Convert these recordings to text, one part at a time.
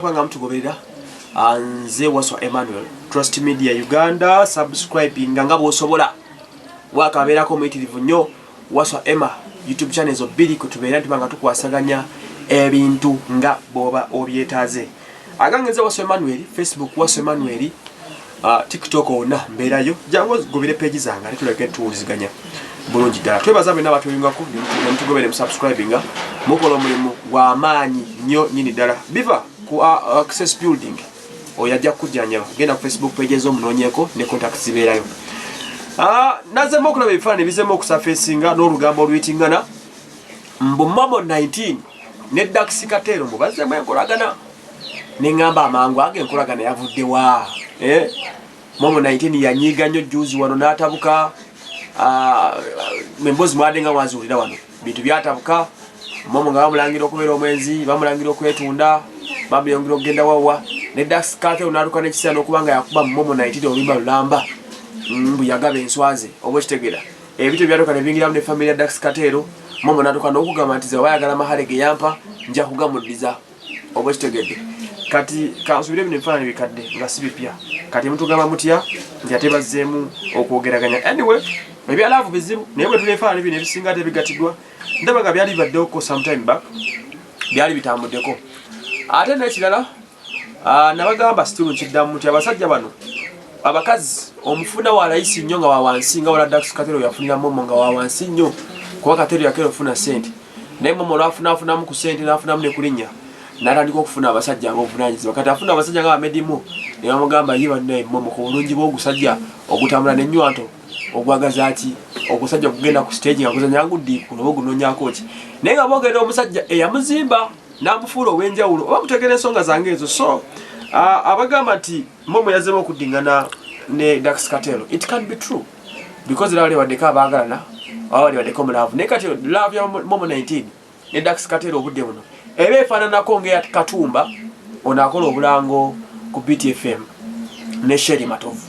kubanga mutugoberera ah, nze waswa emmanuel trust media uganda subscribing nga bwosobola wakabeerako omuyitirivu nnyo waswa emma youtube channel ezo bbiri kwetubeera nti banga tukwasaganya ebintu nga bwoba obyetaaze agange nze waswa emmanuel facebook waswa emmanuel Ah, tiktok ona mbeerayo jangu ogobere peegi zange ate tulabike tuwuliziganya bulungi ddala twebaza bwena abatuyungako nemutugobere musubscribinga mukola omulimu gwamaanyi nnyo nyini ddala biva ku ah, ah, access building oyo ajja kukujjanjaba genda ku facebook page ezomunoonyeko ne contact zibeerayo nazemu okulaba ebifaanani bizemu okusafesinga n'olugambo oluyitingana mbu mamo 19 ne daxikateero mbu bazzemu enkolagana ne ŋŋamba amangu ago enkolagana yavudde wa eh? momo 19 yanyiiga nnyo juzi wano n'atabuka ah, emboozi mwade nga mwaziwulira wano bintu byatabuka momo nga bamulangira okubeera omwenzi bamulangira okwetunda bamuyongera okugenda wawa ne daskate onaluka nekiseera nokuba nga yakuba momo 19 oluyimba lulamba mm, mbu yagaba enswaze oba okitegera ebityo byatuka nebingiramu ne famiry ya daskate ero momo natuka nokugamba nti zebayagala mahale geyampa nja kugamudiza oba kitegedde kati kansubire bino ebifaananyi bikadde nga si bipya kati mutugamba mutya nti ate bazzeemu okwogeraganya anyway ebyalaavu bizibu naye bwe tulefaananyi bino ebisinga ate bigatidwa ndaba nga byali bibaddewoko sometime back byali bitambuddeko ate n'ekirala ah, nabagamba situlu nkiddamu nti abasajja bano abakazi omufuna walayisi nnyo nga wawansi nga wala dax katero yafuniramu omo nga wawansi nnyo kuba katero yakera ofuna sente naye mama olwafunafunamu ku sente nafunamu ne kulinya natandika okufuna abasajja abovunanyizibwa kati afuna abasajja nga bamedimu ne bamugamba ye bannaye mama ku bulungi bwogusajja ogutambula nenywanto ogwagaza ki ogusajja okugenda ku stage nga guzanya nguddiikuno oba ogunonyako ki naye nga bogenda omusajja eyamuzimba namufuula owenjawulo oba mutegera ensonga zange ezo so abagamba nti mama yazemu okuddingana ne dax katelo it can be true because laba lebaddeko abaagalana oba lebaddeko mu laavu naye kati laavu ya momo 19 ne dax kateera obudde buno eba efaananako ngaeya katumba ono akola obulango ku btfm ne sheri matovu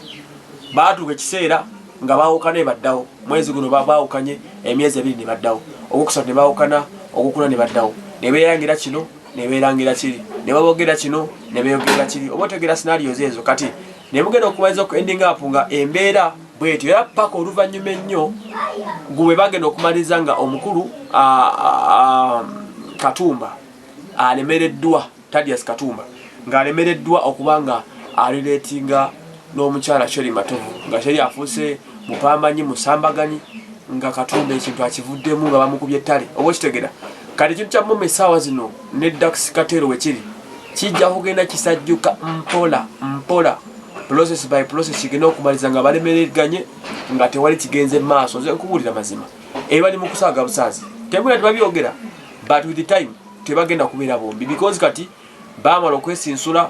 baatuuka ekiseera nga baawukana ebaddawo mwezi guno baawukanye emyezi ebiri ne baddawo ogwokusatu ne baawukana ogwokuna ne baddawo ne beerangira kino ne beerangira kiri ne babogera kino ne beeyogerera kiri oba otegeera sinaliyozeezo kati naye mugenda okumaliza oku ending up nga embeera bwetyo era paka oluvannyuma ennyo gwe bagenda okumaliriza nga omukulu katumba alemereddwa tadias katumba ng'alemereddwa okuba nga alireetinga n'omukyala sheri matovu nga sheri afuuse mupambanyi musambaganyi nga katumba ekintu akivuddemu nga bamukubye ettale oba okitegera kati ekintu kya muma esaawa zino ne Dax Katero wekiri kijja kugenda kisajjuka mpola mpola process by process kigenda okumaliza nga balemereganye nga tewali kigenze maaso nze nkubuulira mazima ebali mu kusaaga busaazi tebula tebabyogera but with the time tebagenda kubeera bombi because kati baamala okwesinsula